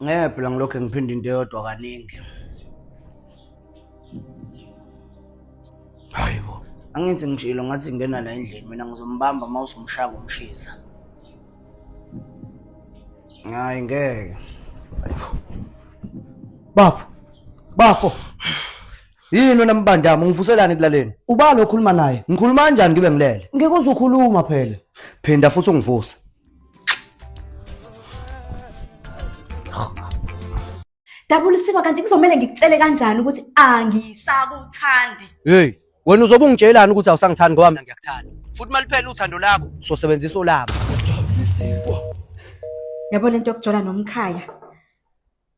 ngeke phela ngilokhu ngiphinda into eyodwa kaningi hayi bo angithi ngishilo ngathi ngena la endlini mina ngizombamba uma usumshaka umshisa hayi ngeke bafo bafo yini wena mbandama ungivuselani ekulaleni ubani okhuluma naye ngikhuluma kanjani ngibe ngilele ngeke uzukhuluma phela phinda futhi ungivuse dabulisiwe kanti kuzomele ngikutshele kanjani ukuthi angisakuthandi hey wena uzobe ungitshelani ukuthi awusangithandi ngoba mina ngiyakuthanda futhi uma liphela uthando lakho sosebenzisa olabo yabo lento yokujola nomkhaya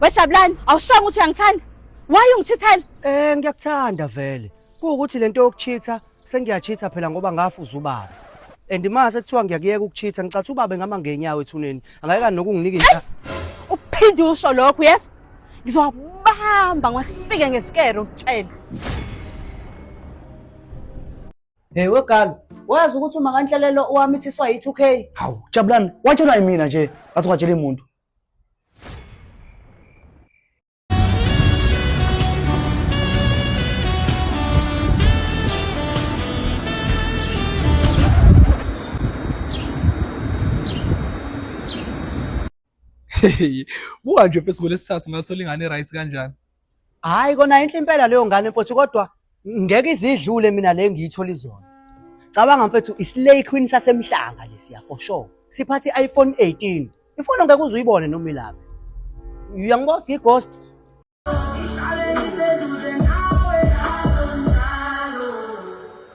Wejabulani, awushongo ukuthi uyangithanda. Why ungithithela? Eh ngiyakuthanda vele. Kuwukuthi lento yokuchitha sengiyachitha phela ngoba ngafuza ubaba. And mase kuthiwa ngiyakuyeka ukuchitha ngicathi ubaba ngama ngenyawo ethuneni. Angayeka nokunginika inhla. Uphinde usho lokho, yes? Ngizowabamba ngasike ngesikero ukutshela. Hey wegal, wazi ukuthi uma kanhlelelo owamithiswa yi2K. Hawu, jabulani, watshelwa yimina nje, ngathi ungatshela umuntu. buka nje fesi ngolesithathu ngathola ingane right kanjani Hayi kona inhle impela leyo ngane mfowethu kodwa ngeke izidlule mina le ngiyithola izona. Cabanga mfethu islay queen sasemhlanga lesiya for sure. Siphathe iPhone 18. Ifoni ngeke uze uyibone noma ilapha. Uyangibona ukuthi ngighost.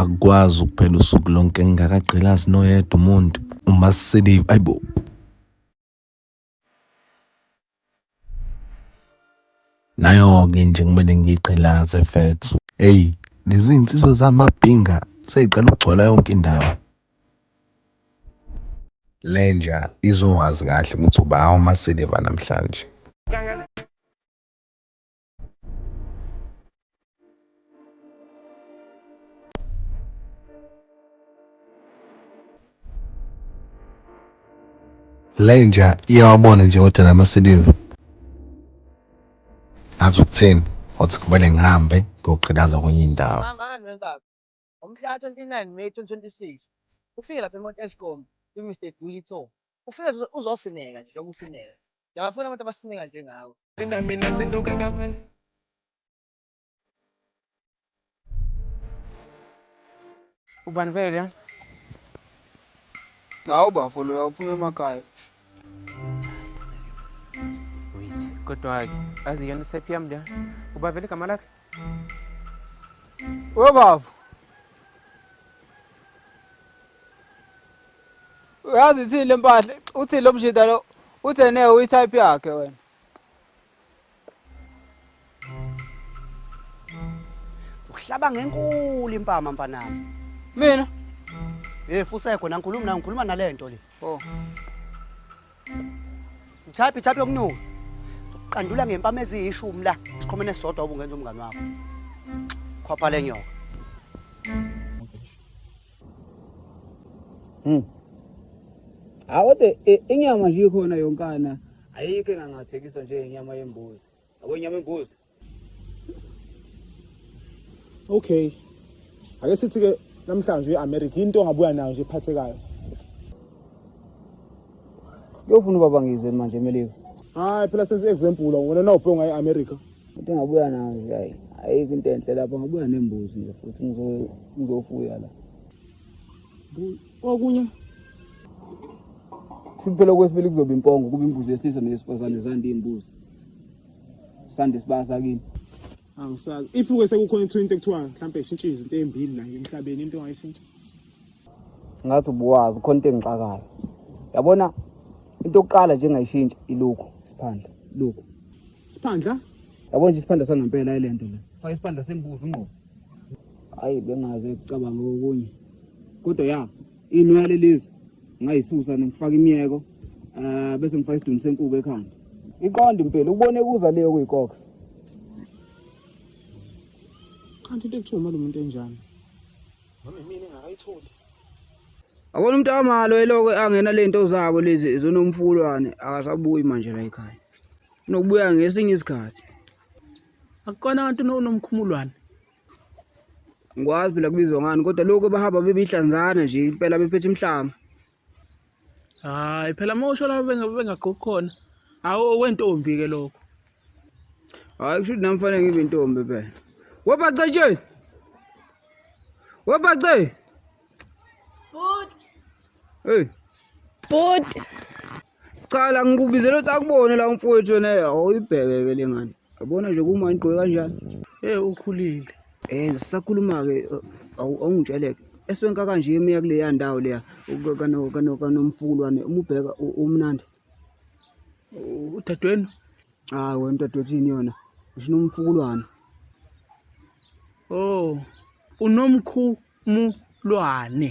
akukwazi ukuphela usuku lonke ngingakagqilazi noyedwa umuntu uma siselive ayibo nayo-ke nje kumele ngiyigqilaze fethu eyi lezi nsizwa zamabhinga seyiqala ukugcwala yonke indawo lenja izowazi kahle ukuthi uba awumasiliva namhlanje lenja iyawabona nje kodwa la masiliva azi ukutheni othi kumele ngihambe ngiyoqhilaza kwenye indawo Ngomhlaka 29 May 2026 ufike lapha eMount Edgecombe kwi Mister Duli Tour. Ufike nje uzosineka nje njengoba usineka. Ngiyabafuna abantu abasineka njengawe. Thina mina zinto kakamani. Ubani vele lona? Hawu bafo loya uphuma emakhaya. kodwa-ke azi yona isephi yami leyo ubavele igama lakhe webavu uyazi ithini le mpahla uthini lo mjida lo uthene uyitype yakhe wena uhlaba ngenkulu impama mfanami mina hey fusego nangikhuluma nayo ngikhuluma nalento le oh Mthaphi thaphi yokunuka uqandula ngempama eziyishumi la sikhomene sodwa ubungenza umngane wakho khwapha lenyoka Hmm. Awode inyama nje ikhona yonkana ayikho engangathekiswa nje inyama yembuzi. Yabo inyama yembuzi. Okay. Ake sithi ke namhlanje eAmerica into ongabuya nayo nje ephathekayo. Yofuna ubaba ngizwe manje eMelika. Hayi phela senze example wena nawubhonga eAmerica. Futhi ngabuya nayo nje hayi. Ayikho into enhle lapho ngabuya nembuzi nje futhi ngizo ngizofuya la. Okunye futhi phela okwesibili kuzoba impongo kuba imbuzi yesilisa neyesifazane zande imbuzi. Sande sibasa kini. angisazi if ke sekukhona into into ekuthiwa mhlawumbe ishintshe izinto ezimbili la nje emhlabeni into ongayishintsha Ngathi ubuwazi khona into engixakayo. Yabona into yokuqala nje engayishintsha ilokhu siphandla. Lokhu. Siphandla? Yabo nje isiphandla sangempela ilento le. Faka isiphandla sembuzi ungqo. Hayi bengaze kucabanga okunye. Kodwa ya, inwele lezi ngayisusa ngifaka imiyeko eh bese ngifaka isidumi senkuku ekhanda. Iqonda impela ukubone kuza leyo kuyikox. Kanti into ekuthiwa lo muntu enjani? Mama mina ngakayitholi. Akona umuntu amalo eloko angena lento zabo lezi zonomfulwane akasabuyi manje la ekhaya. nokubuya ngesinye isikhathi akukona abantu nomkhumulwane ngikwazi phela kubizwa ngani kodwa lokhu bahamba bebihlanzana nje impela bephethe imhlanga hayi phela uma usho laba bengagqoki khona hawu okwentombi-ke lokho hayi kusho ukuthi nami fanele ngibe intombi phela webacetsheni webace heyi bhuti cala ngikubizela ukuthi akubone la umfowethu wena awuyibheke-ke le ngane yabona nje kuma ngigqoke kanjani e ukhulile um ngisakhuluma-ke awungitsheleke eswenka kanje emuya kuleya ndawo leya kanomfukulwane umubheka umnandi udadewenu hayi wena mdadewethini yona usho nomfukulwane o oh, unomkhumulwane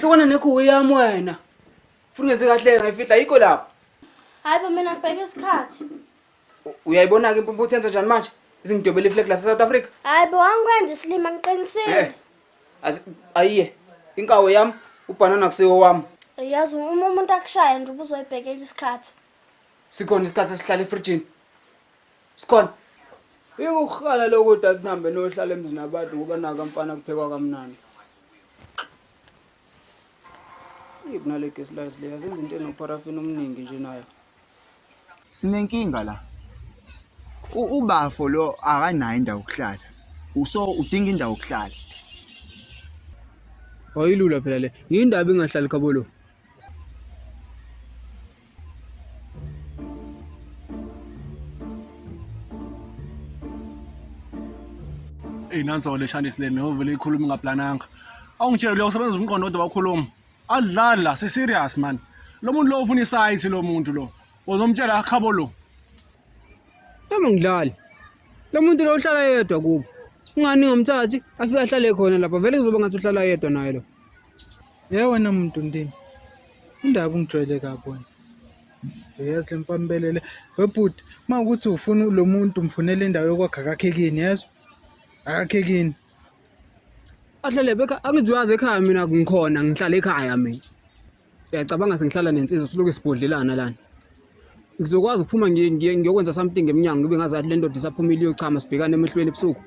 hlukana nekhuwe yami wena funa ungenze kahle ngayifihla yikho lapho hayi bo mina ngibheke isikhathi U- uyayibona-ke impumpu uthenza njani manje izingidobela iflag lasesouth africa hayi bo angikwenza isilima Eh. ngiqinisile Azi- ayiye inkawo yami ubhanana kusiwo wami yazi uma umuntu akushaya nje ubuzoyibhekela isikhathi sikhona isikhathi esihlala efrijini Sikhona. Iwukhana lokho dad nambe nohlala emzini abantu ngoba naka mfana kuphekwa kamnandi. Yip nale gas lights le azenza into enoparafin omningi nje nayo. Sinenkinga la. Ubafo lo akanayo indawo yokuhlala. Uso udinga indawo yokuhlala. Wayilula phela le. Yindaba ingahlali khabolo. eyi nanso le shanti sileni ovele ikhuluma ingaplananga awungitsheli lokho sebenza umqondo kodwa wakhuluma adlali la si-serious mani lo muntu lo ufuna isayithi lo muntu lo uzomtshela akhabo lo noma ngidlali lo muntu lo uhlala yedwa kubo ungani ngamthathi afike ahlale khona lapha vele kuzoba ngathi uhlala yedwa naye lo Ye wena muntu ndini. Indaba ungijwayele kabi wena. Yazi le mfambelele. Webhuti, uma ukuthi ufuna lo muntu umfunele indawo yokwakha akakhekini, yezwa? Akakhekini. Ahlale beka angiziwazi ekhaya mina ngikhona ngihlala ekhaya mina. Uyacabanga sengihlala nensizwa siloke sibhodlelana lana. ngizokwazi ukuphuma ngi- ngi- ngiyokwenza something emnyango ngibe ngazi athi le ndoda isaphumile iyochama sibhekane emehlweni ebusuku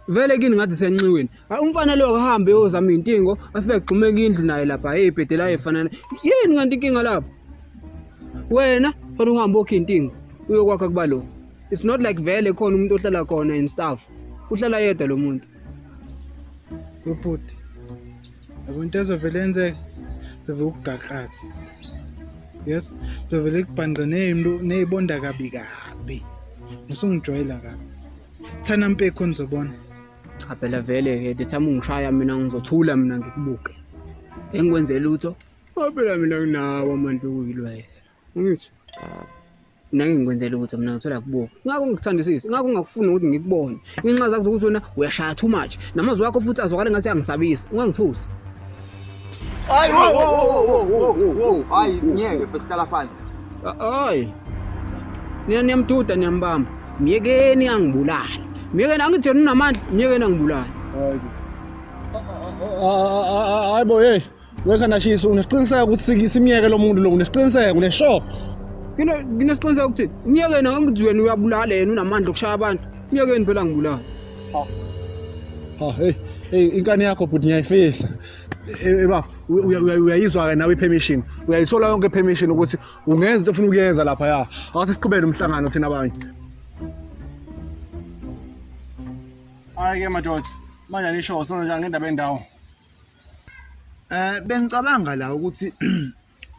vele kini ngathi senxiweni Hayi, umfana lo akahambe yozama iy'ntingo afike agxumeke indlu naye lapha hey ibhede layo efanana yini kanti inkinga lapho wena khona uhambe okhe intingo uyokwakha kuba lo it's not like vele khona umuntu ohlala khona and stuff uhlala yedwa lo muntu ubhuti yabo into ezovele yenzeka zovele ukugaxaze yes zovele kubhanqa neyibonda kabi kabi nosungijwayela kabi thana mpekho nizobona cha phela vele ke ndithama ungishaya mina ngizothula mina ngikubuke engikwenze lutho phela mina nginawo amantu okuyilwayela Ngithi ah, nake ngikwenzela ukuthi mina ngithola kubuka ngakho ngikuthandisisi ngakho ngingakufuni ukuthi ngikubone inxa zakho ukuthi wena uyashaya too much namazwi wakho futhi azwakale ngathi angisabisi ungangithusi hayi wo wo wo wo wo hayi ngeke futhi hlala phansi hayi nina niyamduda niyambamba myekeni angibulali myekeni angithi yena unamandla myekeni angibulali hayi hayi bo hey Wekanashisa unesiqiniseko ukuthi sikisa imiyeke lo muntu lo unesiqiniseko le sure. Kino nginesiqiniseko ukuthi imiyeke yena ngithi wena uyabulala yena unamandla okushaya abantu. Imiyeke yena phela ngibulala. Ha. Ha hey hey inkani yakho bhuti ngiyayifisa. Ebafo uyayizwa ke nawe ipermission. Uyayithola yonke permission ukuthi ungenza into ofuna ukuyenza lapha ya. Awase siqhubele umhlangano thina abanye. Ayike madoda. Manje nisho senza njani ngendaba yendawo? Eh bengicabanga la ukuthi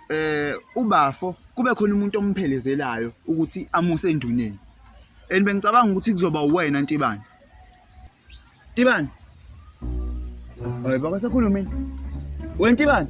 eh ubafo kube khona umuntu omphelezelayo ukuthi amuse enduneni. And bengicabanga ukuthi kuzoba uwena Ntibane. Ntibane. Hayi baka sakhulumeni. Wena Ntibane.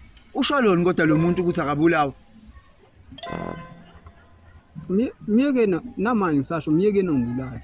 ushaloni kodwa lo muntu ukuthi akabulawa myekeni namanje ngisasho myekeni ongibulala